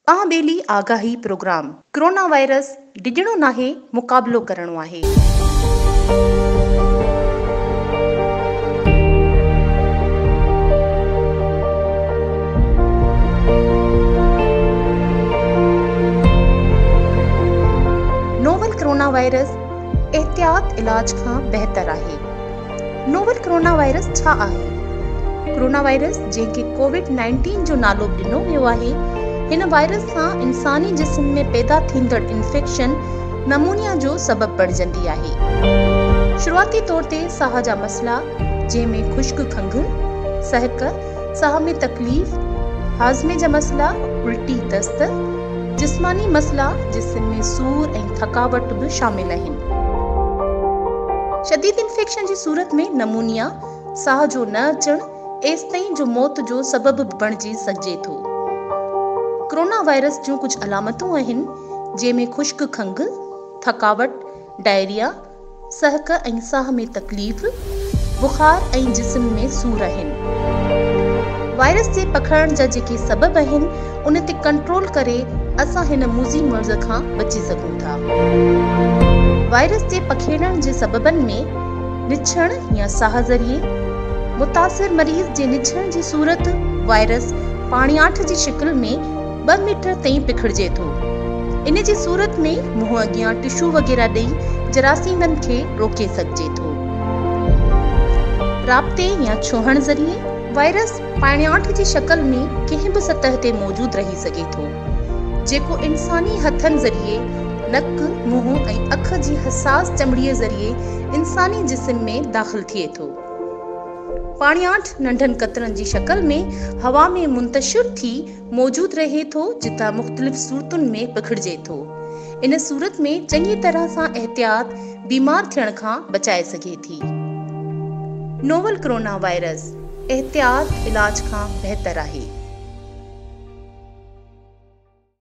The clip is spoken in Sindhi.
اها ٻيلي آگاهي پروگرام. ڪرونا وائرس ڊڄڻو ناهي مقابلو ڪرڻو آهي. نوول ڪرونا وائرس احتياط علاج کان بهتر آهي. نوول ڪرونا وائرس ڇا آهي؟ ڪرونا وائرس جنهن کي ڪووڊ نائنٽين جو نالو به ڏنو ويو آهي، هن وائرس سان انساني جسم ۾ پيدا ٿيندڙ انفيڪشن نمونيا جو سبب بڻجندي آهي. شروعاتي طور تي ساهه جا مسئلا جنهن ۾ خشڪ کنگهه، سهڪ، ساهه ۾ تڪليف، هاضمي جا مسئلا، الٽي، دست، جسماني مسئلا، جسم ۾ سور ۽ ٿڪاوٽ به شامل آهن. شديد انفيڪشن جي صورت ۾ نمونيا، ساهه جو نه اچڻ، ايستائين جو موت جو سبب به بڻجي سگهجي ٿو. ڪرونا وائرس جون ڪجهه علامتون آهن، جنهن ۾ خشڪ کنگهه، ٿڪاوٽ، ڊائريا، سهڪ ۽ ساهه ۾ تڪليف، بخار ۽ جسم ۾ سور آهن. وائرس جي پکڙڻ جا جيڪي سبب آهن ان تي ڪنٽرول ڪري اسان هن موذي مرض کان بچي سگهون ٿا. وائرس جي پکيڙڻ جي سببن ۾ نڇڻ يا ساهه ذريعي متاثر مريض جي نڇڻ جي صورت وائرس پاڻياٺ جي شڪل ۾ ٻه ميٽر تائين پکڙجي ٿو. ان جي صورت ۾ منهن اڳيان ٽشو وغيره ڏئي جراثيمن کي روڪي سگهجي ٿو. رابطي يا ڇهڻ ذريعي وائرس پاڻياٺ جي شڪل ۾ ڪنهن به سطح تي موجود رهي سگهي ٿو، جيڪو انساني هٿن ذريعي، نڪ، منهن ۽ اک جي حساس چمڙي ذريعي انساني جسم ۾ داخل ٿئي ٿو. پاڻياٺ ننڍن قطرن جي شڪل ۾ هوا ۾ منتشر ٿي موجود رهي ٿو جتان مختلف صورتن ۾ پکڙجي ٿو. ان صورت ۾ چڱي طرح سان احتياط بيمار ٿيڻ کان بچائي سگهي ٿي. نوول ڪرونا وائرس احتياط علاج کان بهتر آهي.